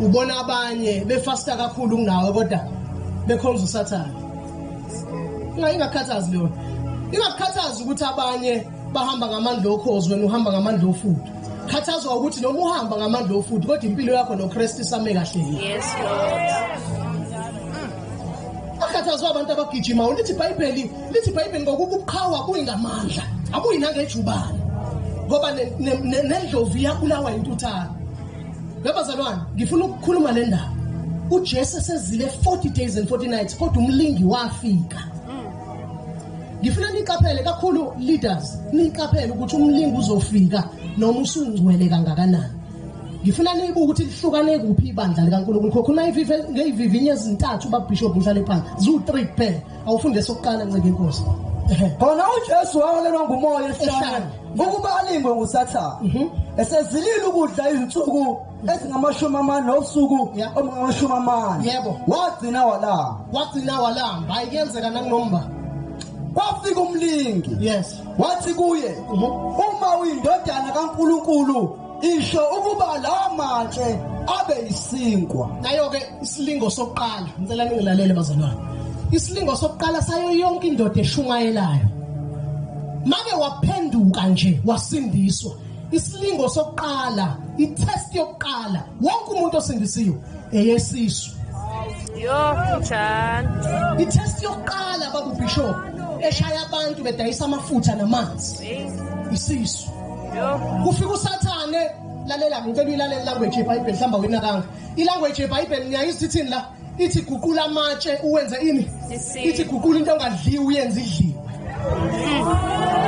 ubona abanye befasta kakhulu kunawe kodwa bekhonza usathane ingakhathazi leyo ingakukhathazi ukuthi abanye bahamba ngamandla okhozi wena uhamba ngamandla ofudu khathazwa ukuthi noma uhamba ngamandla ofudu kodwa impilo yakho nokristu isame kahle yes akhathazwa abantu abagijima ulithi ibhayibheli lithi ibhayibheli ngokuba ubuqhawa kuyingamandla akuyinangejubane ngoba nendlovu iyabulawa intuthane Labazalwane ngifuna ukukhuluma le ndaba. UJesu esezile 40 days and 40 nights kodwa umlingi wafika. Ngifuna niqaphele kakhulu leaders, niqaphele ukuthi umlingi uzofika noma usungcwele kangakanani. ngifuna niyibuke ukuthi lihlukane kuphi ibandla likaNkulunkulu khokho nayivive ngeyivivinye ezintathu babishop mhlale phansi zu 3 kuphela awufunde esokuqala ncike inkosi khona uJesu waholelwa ngumoya ehlane ukuba alingwe nguSathane mhm. esezilile ukudla izinsuku ezingamashumi amane nosuku omungamashumi amane yebo wagcina walamba wagcina walamba ayikenzeka nakunomba kwafika umlingi yes wathi kuye mhm. uma uyindodana kaNkuluNkulu isho ukuba lawa matshe abe yisinkwa nayo-ke isilingo sokuqala ngicela ningilalele bazalwane isilingo sokuqala sayo yonke indoda eshumayelayo make waphenduka nje wasindiswa isilingo sokuqala itest yokuqala wonke umuntu osindisiwe eyesisu yo njani itest yokuqala babubishop eshaya abantu bedayisa amafutha namanzi isisu kufika usathane lalela ngicela uyilalele language yebhayibheli hlamba winakanga ilanguage yebhayibheli niyayizwa ithini la ithi guqula amatshe uwenze ini ithi guqula into ongadliwe uyenze idliwe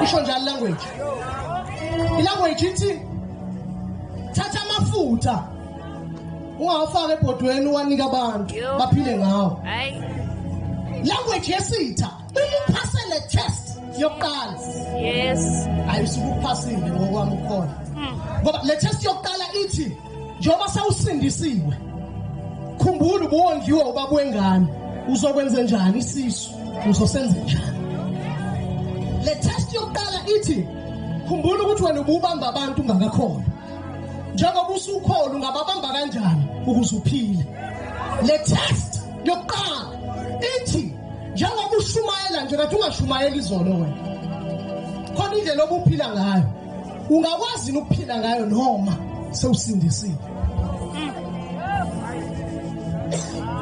isho njalo ilanguage ilanguage ithi thatha amafutha ungawafaka ebhodweni uwanika abantu baphile ngawo language yesitha uphasele test yokuqala yes ayisuke uphasile ngokwami ukhona hmm. ngoba le test yokuqala ithi njengoba sawusindisiwe khumbula ubuwongiwe ubaba wengane uzokwenza njani isisu uzosenza njani le test yokuqala ithi khumbula ukuthi wena ububamba abantu ungakakhona njengoba usukhona ungababamba kanjani ukuze uphile le test yokuqala ithi njengoba ushumayela nje kathi ungashumayeli izolo wena khona indlela obuphila ngayo ungakwazi ukuphila ngayo noma sewusindisile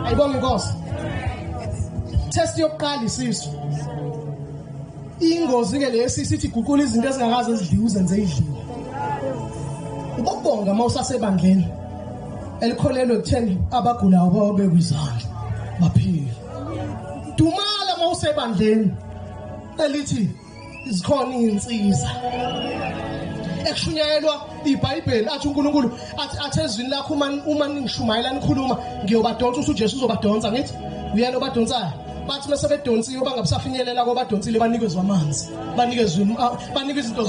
ayibonge inkosi test yokuqala isisu ingozi ke le sisi ithi guqula izinto ezingakaze zidliwe uzenze idliwe ubabonga uma usasebandleni elikholelwe ekutheni abagulayo bawabekwa izandla baphile dumala uma usebandleni elithi zikhona iy'nsiza ekushunyayelwa ibhayibheli athi unkulunkulu athi athi ezwini lakho uma uma ningishumayela nikhuluma ngiyobadonsa uthi ujesu uzobadonsa ngithi uyena obadonsayo bathi uma sebedonsiwe bangabusafinyelela kwabadonsile banikezwa amanzi banikezwe ah, banikwe izinto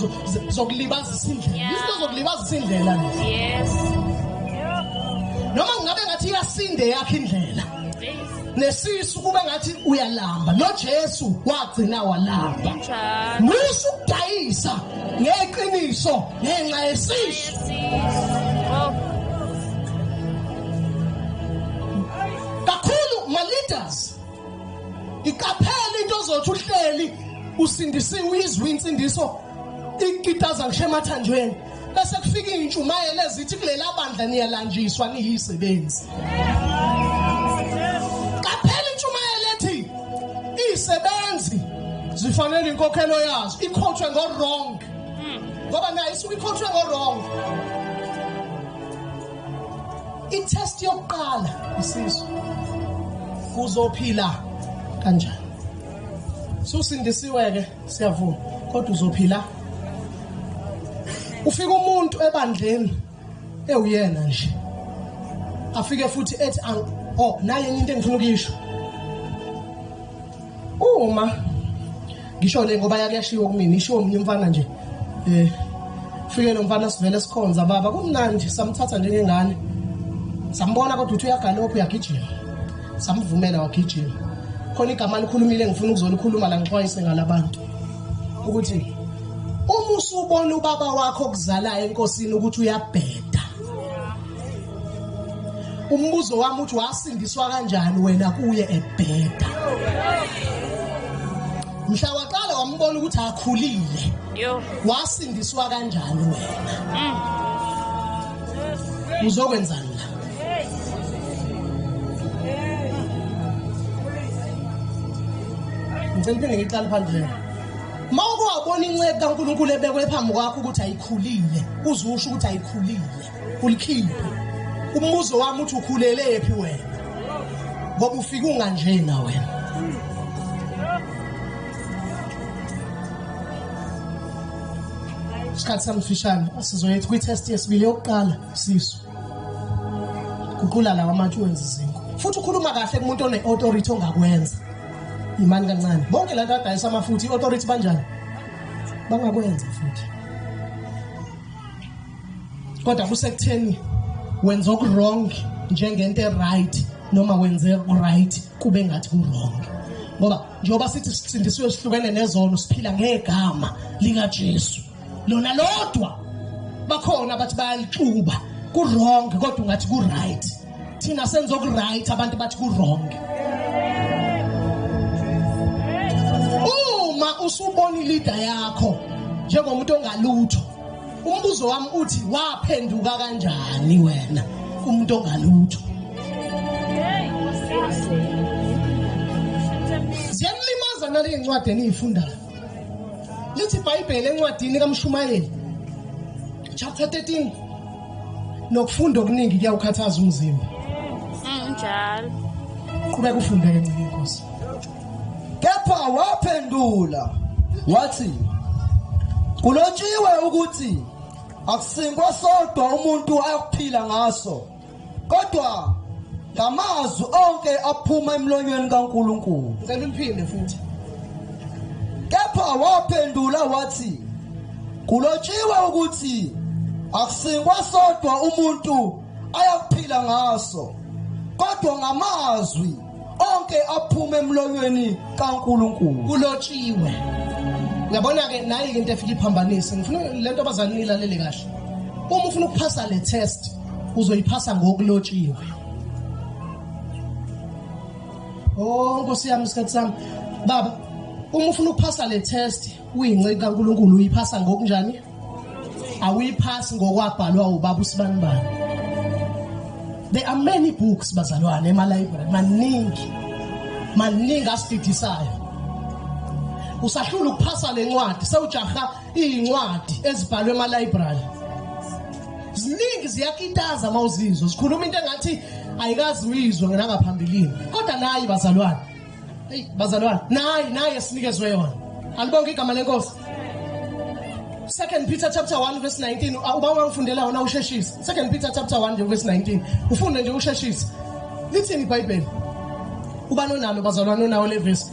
zokulibazisa indlela izinto zokulibazisa indlela yes noma ngabe ngathi iyasinda eyakhe indlela nesisu kuba ngathi uyalamba noJesu wagcina walamba musu ukudayisa ngeqiniso ngenxa yesisu kakhulu ma leaders iqaphela into ozothi uhleli usindisiwe izwi insindiso ikitaza ngisho emathanjweni bese kufika intshumayelo ezithi kulela bandla niyalanjiswa niyisebenzi kaphela intshumayelo ethi isebenzi zifanele inkokhelo yazo ikhothwe ngo wrong ngoba nayo isuke ikhothwe ngo wrong itest yokuqala isizwe kuzophila kanjani susindisiwe ke siyavuma kodwa uzophila ufika umuntu ebandleni ewuyena nje afike futhi ethi oh naye into engifuna ukuyisho uma ngisho le ngoba yakuyashiwo kumina ishiwo omunye umfana nje eh fike lo mfana sivele sikhonza baba kumnandi samthatha njengengane sambona kodwa uthi uyagalopha uyagijima samvumela wagijima khona igama likhulumile ngifuna ukuzolikhuluma la ngixwayise ngalabantu ukuthi uma usubona ubaba wakho okuzalayo enkosini ukuthi uyabheda umbuzo wami uthi wasindiswa kanjani wena kuye ebheda mhla waqala wambona ukuthi akhulile wasindiswa kanjani wena mm. uzokwenzani la ngicela phinde ngiqale phandle uma uke wabona incebe kankulunkulu ebekwe phambi kwakho ukuthi ayikhulile uze usho ukuthi ayikhulile ulikhiphe umbuzo wami uthi ukhulelephi wena ngoba ufike unganjena wena isikhathi samfishane sizoyetha kwi-test yesibili yokuqala sisu guqula lawa manje uwenza izinko futhi ukhuluma kahle kumuntu one-authority ongakwenza imani kancane bonke la nto adayisa amafuthi i-authority banjani bangakwenza futhi kodwa kusekutheni wenza okuwrong njengento e-right noma wenze right kube ngathi kurong ngoba njengoba sithi sisindisiwe sihlukene nezono siphila ngegama likaJesu lona lodwa bakhona bathi bayalixuba kurong kodwa ungathi kuright thina senza okuright abantu bathi kurong uma usubona ilida yakho njengomuntu ongalutho Umbuzo wami uthi waphenduka kanjani wena umuntu ongalutho? Ziyamlimaza nale incwadi eniyifundayo. Lithi iBhayibheli encwadini kaMshumayeli chapter 13 nokufunda okuningi kuyawukhathaza umzimba mm, njalo qhubeka ufunde ke ncike inkosi kepha waphendula wathi kulotshiwe ukuthi akusinkwa sodwa umuntu ayokuphila ngaso kodwa ngamazwi onke aphuma emlonyweni kaNkulunkulu ngicela uliphinde futhi kepha waphendula wathi kulotshiwe ukuthi akusingwa sodwa umuntu ayakuphila ngaso kodwa ngamazwi onke aphuma emlonyweni kaNkulunkulu kulotshiwe uyabona ke nayi into efika iphambanise ngifuna lento abazali nilalele kahle uma ufuna ukuphasa le test uzoyiphasa ngokulotshiwe oh nkosi yami isikhathi sami baba uma ufuna ukuphasa le test uyinceku kaNkuluNkulu uyiphasa ngokunjani awuyiphasi ngokwabhalwa ubaba usibanibani there are many books bazalwane ema library maningi maningi asididisayo usahlula ukuphasa lencwadi sewujaha izincwadi ezibhalwe ema-library ziningi ziyakitaza uma uzizwa zikhuluma into engathi ayikazi uyizwe nangaphambilini kodwa nayi bazalwane eyi bazalwane nayi nayi esinikezwe yona alibonke igama lenkosi second peter chapter 1 verse 19 uba wangifundela wona usheshisa second peter chapter 1 nje verse 19 ufunde nje usheshisa lithini ibhayibheli uba nonalo bazalwane onawo le vesi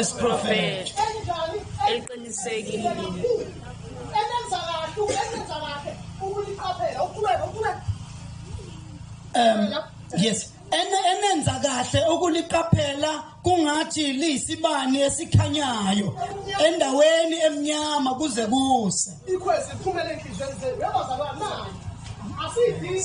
isiprofethi eliqinisekile um yes enenza kahle ukuliqaphela kungathi liyisibani esikhanyayo endaweni emnyama kuze kuse ikhwezi iphumele enhlizweni zenu yabazalwana asiyidingi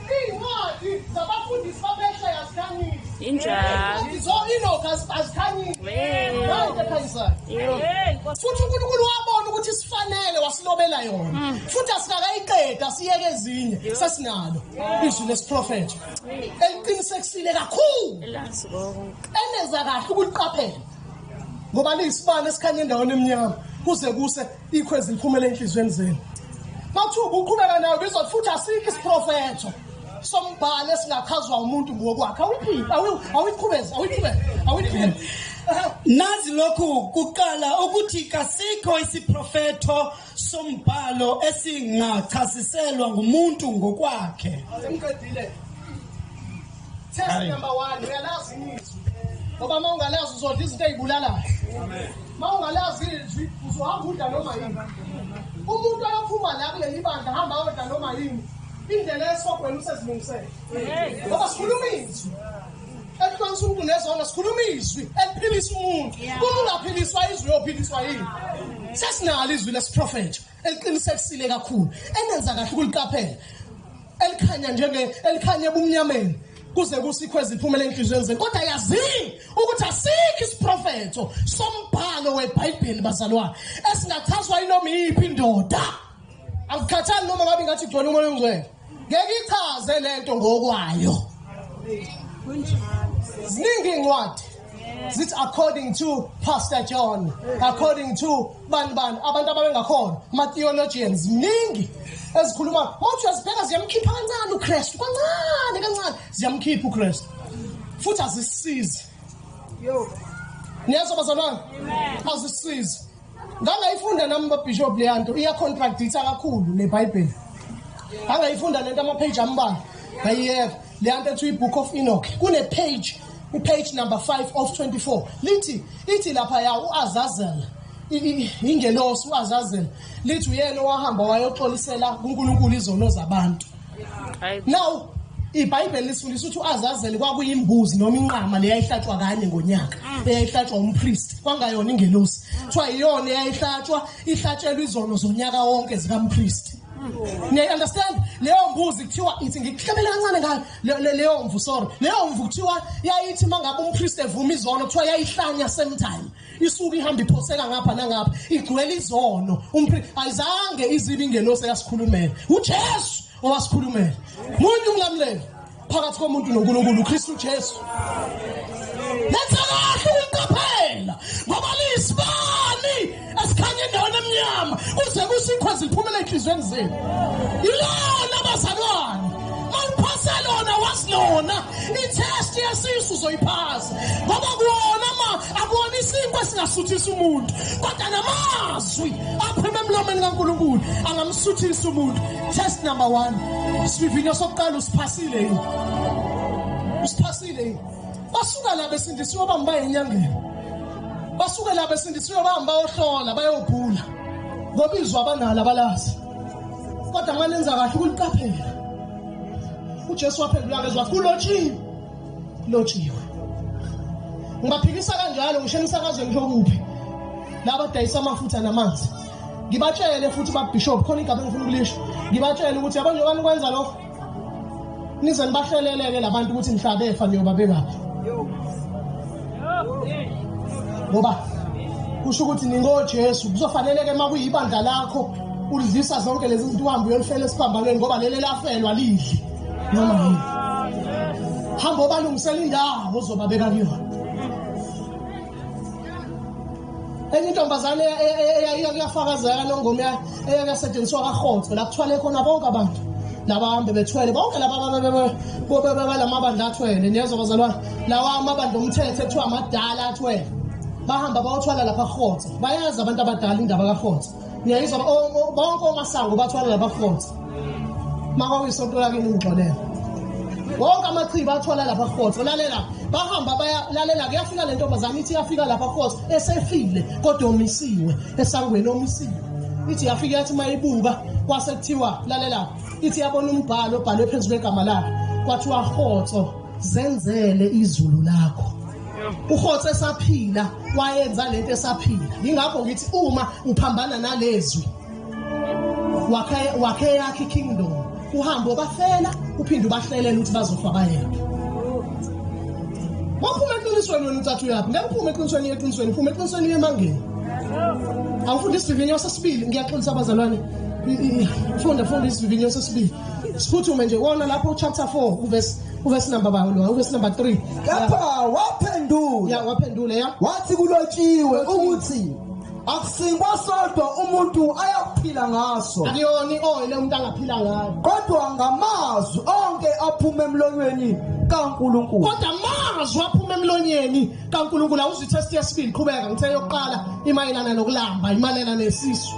Izincwadi zabafundisi babehla yazikhanyisa. Injalo. Zo Enoch azikhanyisa. Manje khanyisa. Futhi uNkulunkulu wabona ukuthi sifanele wasilobela yona. Mm. Futhi asikakayiqeda siyeke ezinye sesinalo izwi lesiprofeto. Eliqinisekisile kakhulu. Elazi konke. Eneza kahle ukuliqaphela. Ngoba liyisibani esikhanya endaweni emnyama kuze kuse ikho eziphumela enhliziyweni zenu mathuba uqhubeka nayo bizwa futhi asikho isiprofetho sombhalo esingachazwa umuntu ngokwakhe awuyiphile awuyiqhubezi awuyiqhubezi awuyiphile nazi lokhu kuqala ukuthi kasikho isiprofetho sombhalo esingachasiselwa ngumuntu ngokwakhe Test number 1 uyalazi izwi. Ngoba uma ungalazi uzodla izinto ezibulalayo. Amen. Uma ungalazi izwi uzohamba udla noma yini. Umuntu ayophuma la kuleli bandla hamba odla noma yini. Indlela esogwena usezilungisele. Ngoba sikhuluma izwi. Ekuhlonisa umuntu nezona sikhuluma izwi eliphilisa umuntu. Uma ungaphiliswa izwi uyophiliswa yini? Sesinalo izwi lesiprofetho. eliqinisekisile kakhulu enenza kahle ukuliqaphela elikhanya njenge elikhanya ebumnyameni kuze kusikho eziphumela enhliziyweni zenu kodwa yazini ukuthi asikho isiprofetho sombhalo webhayibheli bazalwane esingachazwa yinoma iyiphi indoda akukhathali noma ngabe ngathi ugcwele umoya ongcwele Ngeke ichaze lento ngokwayo. Ziningi incwadi zithi according to Pastor John, according to bani bani abantu ababengakhona ama theologians ziningi ezikhuluma mawuthi uyazibheka ziyamkhipha kancane uKristu kancane kancane ziyamkhipha uKristu futhi azisizi. Yo. Niyazwa bazalwane? Amen. Azisizi. ngangayifunda nami babishop leya nto iyacontractitha kakhulu nebhayibheli angayifunda le nto amapheji ambalwa ngayiyeka leya nto ethiwa i-book of enoch kunepheji ipage number 5 of 24 lithi ithi lapha ya uAzazel ingelosi uAzazel lithi uyena owahamba wayoxolisela kuNkulunkulu izono zabantu now ibhayibheli lisifundisa ukuthi uazazeli kwakuyimbuzi noma inqama leyayihlatshwa kanye ngonyaka mm. eyayihlatshwa umpristi kwangayona ingelosi mm. kuthiwa yiyona eyayihlatshwa ihlatshelwa izono zonyaka wonke zikampristi mm. niyayi-understand leyo mbuzi kuthiwa ithi ngikuhlebele kancane ngayo leyo mvu sorry leyo mvu kuthiwa yayithi uma ngabe umpristi evuma izono kuthiwa yayihlanya same time isuke ihamba iphoseka ngapha nangapha igcwele izono ayizange izibe ingelosi eyasikhulumela ujesu owasikhulumela muntu umlamuleli phakathi komuntu nonkulunkulu ukristu jesu lenza kahle ukuqaphela ngoba liyisibani esikhanya endaweni emnyama kuze kusikho ziphumela ey'nhliziyweni zenu ilona bazalwane Mangiphase lona wazi lona itest yesisu uzoyiphasa ngoba kuwona ma akuwona isinkwa esingasuthisa umuntu kodwa namazwi aphuma emlomeni kaNkulunkulu angamsuthisa umuntu test number 1 sivivinyo sokuqala usiphasile yini usiphasile yini basuka la besindisiwe bamba enyangeni basuke la besindisiwe bamba ohlola bayobhula ngobizwa abanalo abalazi kodwa manenza kahle ukuliqaphela uJesu waphendula kezwa kulotshiwe lotshiwe ngibaphikisa kanjalo ngisho emsakazweni kokuphi laba dayisa amafutha namanzi ngibatshele futhi babishop khona igaba engifuna ukulisho ngibatshele ukuthi yabona njengoba nikwenza lokho nize nibahleleleke labantu ukuthi mhla befa niyoba bengaphi ngoba kusho ukuthi ningojesu kuzofaneleke uma kuyibandla lakho ulidlisa zonke lezi zinto uhambe uyolifela esiphambanweni ngoba leli lafelwa lidli noma yini hamba obalungisela indawo ozobabeka kuyona enye intombazane eyakuyafakazeka lo ngoma eyakuyasetshenziswa kahotho la kuthwale khona bonke abantu labahambe bethwele bonke labalamabandla athwele niyezwa bazalwane lawa amabandla omthetho ekuthiwa amadala athwele bahamba bayothwala lapha rhotsa bayazi abantu abadala indaba karhotsa ngiyayizwa bonke omasango bathwala labakhotha makwawisonto lake ningixolela wonke amachibi athwala lapha khotho lalela bahamba bayalalela kuyafika le ntombazane ithi yafika lapha khotho esefile kodwa omisiwe esangweni omisiwe ithi yafika yathi uma ibuka kwase kuthiwa lalela ithi yabona umbhalo obhalwe phezu kwegama lakhe kwathiwa khotho zenzele izulu lakho ukhotho esaphila wayenza lento esaphila ingakho ngithi uma uphambana nalezwi wakhe wakhe yakhe kingdom uhambo bafela uphinde ubahlelela ukuthi bazofa bayeke Waphuma eqinisweni wena ucathi uyaphi? Ngeke uphume eqinisweni uye eqinisweni, phuma eqinisweni uye emangeni. Awufunda isivivinyo sesibili, ngiyaxolisa abazalwane. Funda funda isivivinyo sesibili. Siphuthume nje wona lapho chapter 4 verse uvesi number ba lo uvesi number 3 kepha waphendula ya waphendula ya wathi kulotshiwe ukuthi akusingwa sodwa umuntu ayakuphila ngaso akuyona i-oyile umuntu angaphila ngayo kodwa ngamazwi onke aphuma emlonyweni kaNkuluNkulu kodwa amazwi aphuma emlonyeni kaNkuluNkulu awuzitest yesibili qhubeka ngithe yokuqala imayelana nokulamba imalelana nesisu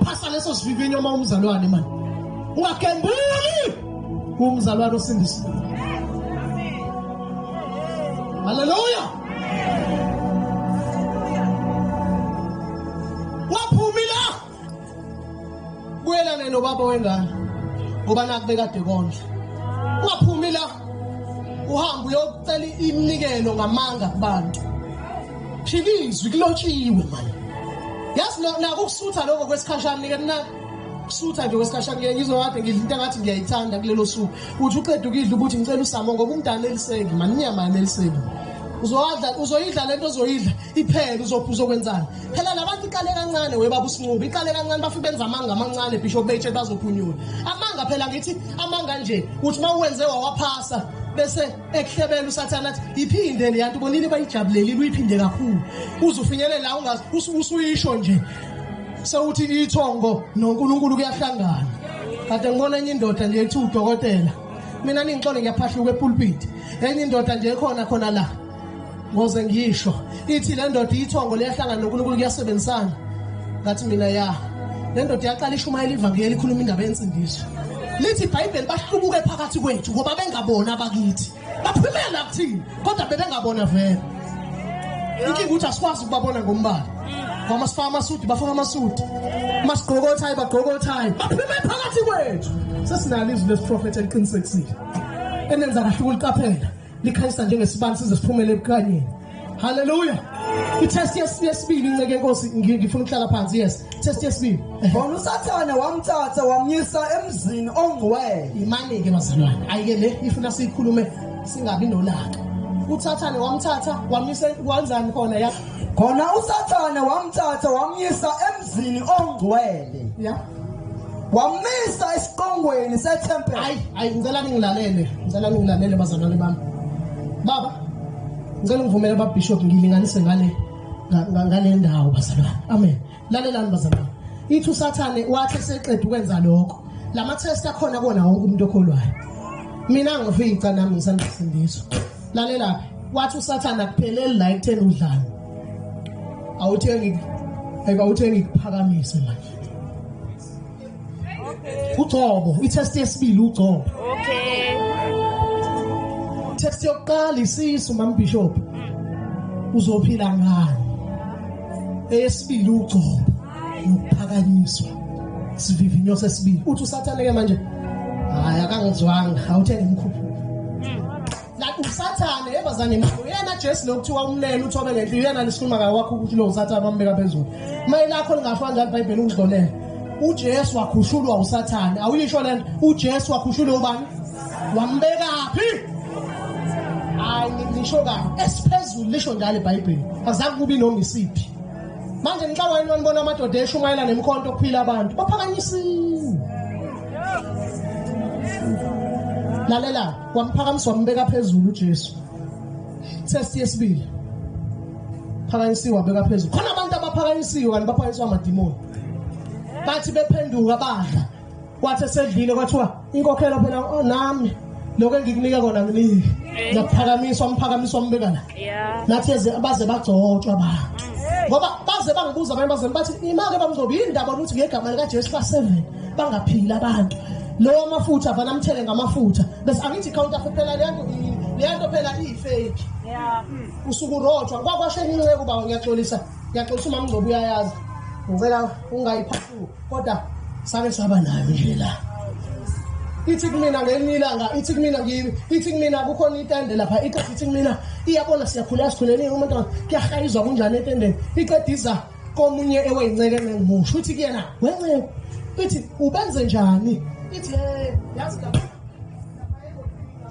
phasa leso sivivinyo uma umzalwane manje ungagembuli Kungizalwane osindisa. Haleluya. Waphumila. Kuyelana nobaba wengane. Ngoba nakubekade konje. Waphumila. Uhamba uyocela iminikelo ngamanga kubantu. Phikizwe kulotshiwe manje. Yazi nakusutha lokho kwesikhashana nike sutha nje kwesikhashana ngeke ngizwe kade ngidla into engathi ngiyayithanda kulelo suku uthi uqeda ukidla ukuthi ngicela usamo ngoba umntana eliseki mani inyama yami eliseki uzowadla uzoyidla lento ozoyidla iphele uzophi uzokwenzani phela labantu iqale kancane we baba usincubi iqale kancane bafike benza amanga amancane bishop betshe bazophunyula amanga phela ngithi amanga nje uthi uma uwenze wawaphasa bese ekuhlebela usathane athi iphinde le yanto bonini bayijabulelile uyiphinde kakhulu uze ufinyelele la ungazi usuyisho nje sewuthi ithongo noNkulunkulu kuyahlangana kade ngibona enye indoda nje ethi udokotela mina ningixole ngiyaphahluka epulpit enye indoda nje ekhona khona la ngoze ngisho ithi le ndoda iyithongo liyahlangana nonkulunkulu kuyasebenzisana ngathi mina ya le ndoda iyaqala ishumayela ivangeli ikhuluma indaba yensindiso lithi ibhayibheli bahlubuke phakathi kwethu ngoba bengabona abakithi baphumela kuthini kodwa bebengabona vele inkinga ukuthi asikwazi ukubabona ngombala ngoba sifaka amasudi bafaka amasudi uma sigqoka othayi bagqoka othayi baphume phakathi kwethu sesinalo izwi lesiprofethi eliqinisekisile enenza kahle ukuliqaphela likhanyisa njengesibani size siphumele ebukhanyeni haleluya itest yesibili inceke inkosi ngifuna ukuhlala phansi yes test yesibili khona usathane wamthatha wamyisa emzini ongcwele imane-ke bazalwane ayike le ifuna siyikhulume singabi nolaka uthathane wamthatha wamyisa wenzani khona ya khona usathane wamthatha wamyisa Zini ongcwele. Yeah. Wamisa isiqongweni sethempeli. Hayi, hayi ngicela ningilalele. Ngicela ningilalele bazalwane bami. Baba, ngicela ngivumele baba Bishop ngilinganise ngale ngale ndawo bazalwane. Amen. Lalelani bazalwane. Ithi uSathane wathi seqeda ukwenza lokho. Lama test akhona kona wonke umuntu okholwayo. Mina ngifica nami ngisandisindiswa. Lalelaphi. Wathi uSathane akupheleli la ekutheni udlala. awuthengi eka uthengi kuphakamise manje ugcobo itest yesibili ugcobo okay test yokuqala isisu mambishop uzophila ngani eyesibili ugcobo nokuphakanyiswa sivivinyo sesibili uthi usathane ke manje hayi akangizwanga awuthe ngimkhuphe Like usathane yebazane mfo yena Jesu lokuthiwa umlele uthobe ngempilo yena lisikhuluma ngayo wakho ukuthi lo usathane bambeka phezulu. Maye lakho lingafana njalo iBhayibheli ukudlolele. uJesu wakhushulwa uSathane awuyisho lento uJesu wakhushulwa ubani wambekaphi hayi ngisho kahle esiphezulu lisho njalo iBhayibheli azange kubi noma isiphi manje ngixawa yini wanibona amadoda eshumayela nemkhonto okuphila abantu baphakanyisiwe lalela wamphakamisa wambeka phezulu uJesu test yesibili phakanyisiwe wabeka phezulu khona abantu abaphakanyisiwe kanti baphakanyiswa amadimoni bathi bephenduka badla kwathi esedlile kwathiwa inkokhelo phela oh, nami lokho engikunika kona nginiki ngiyaphakamiswa umphakamiswa umbeka la yeah. nathi baze bagcotshwa abantu ngoba baze bangibuza abanye bazali bathi imake bamngcobo yini ndaba ukuthi ngegama likajesu ba-seven bangaphili abantu lowo amafutha vana amthele ngamafutha bese angithi ikhawunta phela leyanto leyanto phela iyifeki usuku rojwa kwakwashe ninceku baba ngiyaxolisa ngiyaxolisa umamngcobo uyayazi ngicela ungayipha kodwa sake saba nayo nje la ithi kumina ngelinye ilanga ithi kumina ngimi ithi kumina kukhona itende lapha iqeda ithi kumina iyabona siyakhula sikhuleni umuntu kuyahayizwa kunjani etendeni iqeda iza komunye eweyinceke nengimusho uthi kuyena wenceke ithi ubenze njani ithi yazi lapha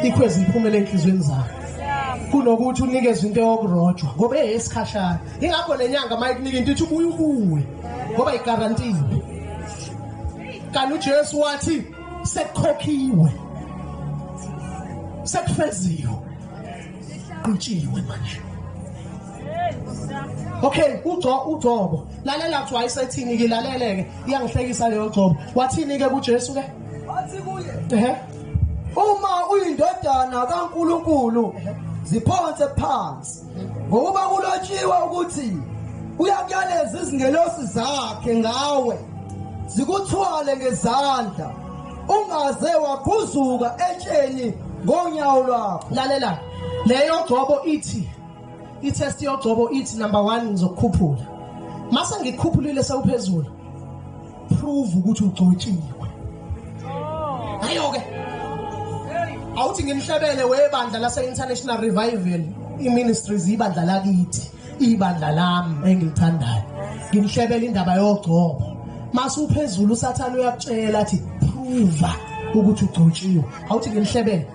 sikho eziphumela enhlizweni zakho kunokuthi unikezwe into yokurojwa ngoba eyesikhashana ingakho nenyanga uma ikunika into ithi ubuye ubuye ngoba igarantile kanti ujesu wathi sekukhokhiwe sekufeziwe qhutshiwe manje okay ugco ugcobo lalela kuthiwa ayisethini ke laleleke iyangihlekisa leyo gcobo wathini ke kujesu ke wathi kuye ehe uma uyindodana kaNkuluNkulu ziphonse phansi ngokuba kulotshiwe ukuthi uyakuyaleza izingelosi zakhe ngawe zikuthwale ngezandla ungaze wagquzuka etsheni ngonyawo lwakho lalela leyo gcobo ithi i-test yogcobo ithi number 1 ngizokukhuphula mase ngikukhuphulile sewuphezulu prove ukuthi ugcotshiwe ayo ke awuthi ngimhlebele webandla lase-international revival i-ministries ibandla lakithi ibandla lami engilithandayo ngimhlebele indaba yogcobo mase uphezulu usathane uyakutshela athi phuva ukuthi ugcotshiwe awuthi ngimhlebele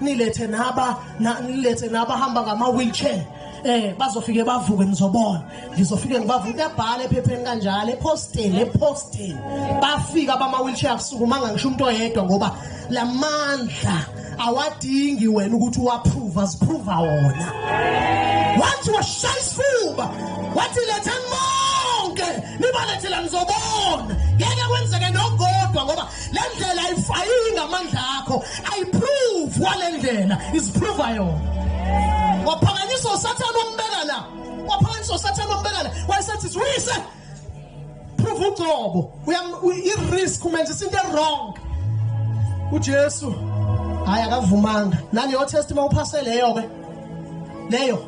nilethe naba na, nilethe naba hamba ngama wheelchair eh bazofike bavuke nizobona ngizofike ngibavuke ebhala ephepheni kanjalo eposteni eposteni bafika bama wheelchair akusukumanga ngisho umuntu oyedwa ngoba lamandla awadingi wena ukuthi uwapprove aziprova wona wathi washaya isifuba wathi letha bonke nibalethela nizobona ngeke kwenzeke nogodwa ngoba le ndlela ayifayiyi ngamandla akho ayiprove wale ndlela iziprova yona waphakanyiswa usathane wambeka la waphakanyiswa usathane wambeka la wayesethi siwise prove ucobo i-risk umenza isinto e-wrong ujesu hhayi akavumanga naleyo test uma uphase leyo-ke leyo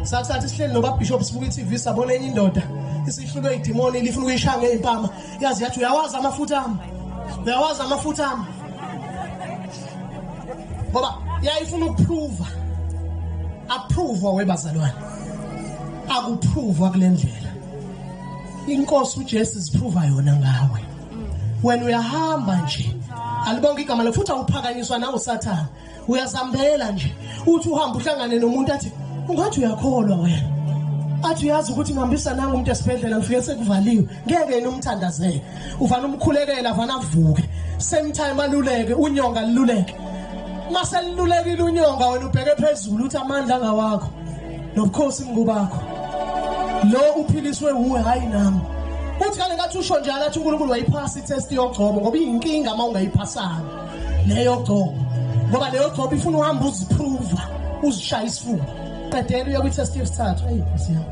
sakusathi sihleli nobabhishop sibuka i-tv sabona enye indoda isihlulwe idimoni lifuna ukuyishaya ngey'mpama yazi yathi uyawazi amafutha ami uyawazi amafutha ami ngoba yayifuna ukuphruva appruvwa webazalwane akuphruva kule ndlela inkosi uJesu ziphruva yona ngawe wena uyahamba nje alibonke igama lakho futhi awuphakanyiswa nawo sathana uyazambelela nje uthi uhamba uhlangane nomuntu athi ungathi uyakholwa wena athi uyazi ukuthi ngihambisa nangu umuntu esibhedlela ngifike sekuvaliwe ngeke yena umthandazele uvana umkhulekela vana avuke same time aluleke unyonga lululeke mase lululekile unyonga wena ubheke phezulu uthi amandla angawakho nobukhosi mngubakho lo uphiliswe wuwe hayi nami uthi kale ngathi usho njalo athi uNkulunkulu wayiphasa itest yogcobo ngoba iyinkinga uma ungayiphasanga leyo gcobo ngoba leyo gcobo ifuna uhamba uziphruva uzishaya isifuba qedela uye kwi-test yesithathu eyi nkosi yami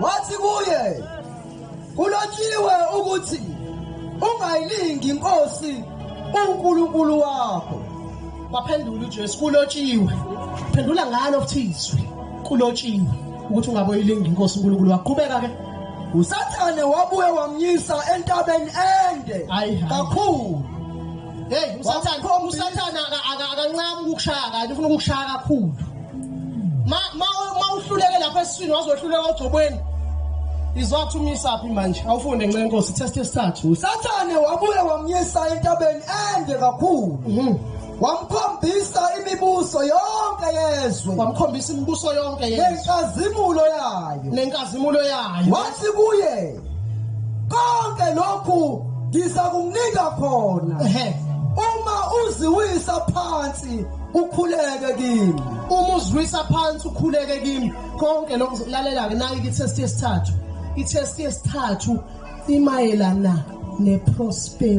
wathi kuye kulotshiwe ukuthi ungayilingi inkosi unkulunkulu wakho waphendula ujesu kulotshiwe phendula ngalo futhizwe kulotshiwe ukuthi ungaboyilingi inkosi unkulunkulu wakho qhubeka ke usathane wabuye wamnyisa entabeni ende kakhulu Hey usathana usathana akancama ukukushaya kanti ufuna ukukushaya kakhulu. Ma ma uhluleke lapha esiswini wazohluleka ogcobweni. Izothumisa phi manje? Awufunde ncenye inkosi test esithathu. Usathane wabuye wamyisa entabeni ende kakhulu. Mhm. Wamkhombisa imibuso yonke yezwe. Wamkhombisa imibuso yonke yezwe. Nenkazimulo yayo. Nenkazimulo yayo. Wathi kuye konke lokhu ngizakukunika khona uma uziwisa phansi ukhuleke kimi uma uziwisa phansi ukhuleke kimi konke lokhu lalela-ke nayo kithesti yesithathu ithesti yesithathu imayelana neprosperity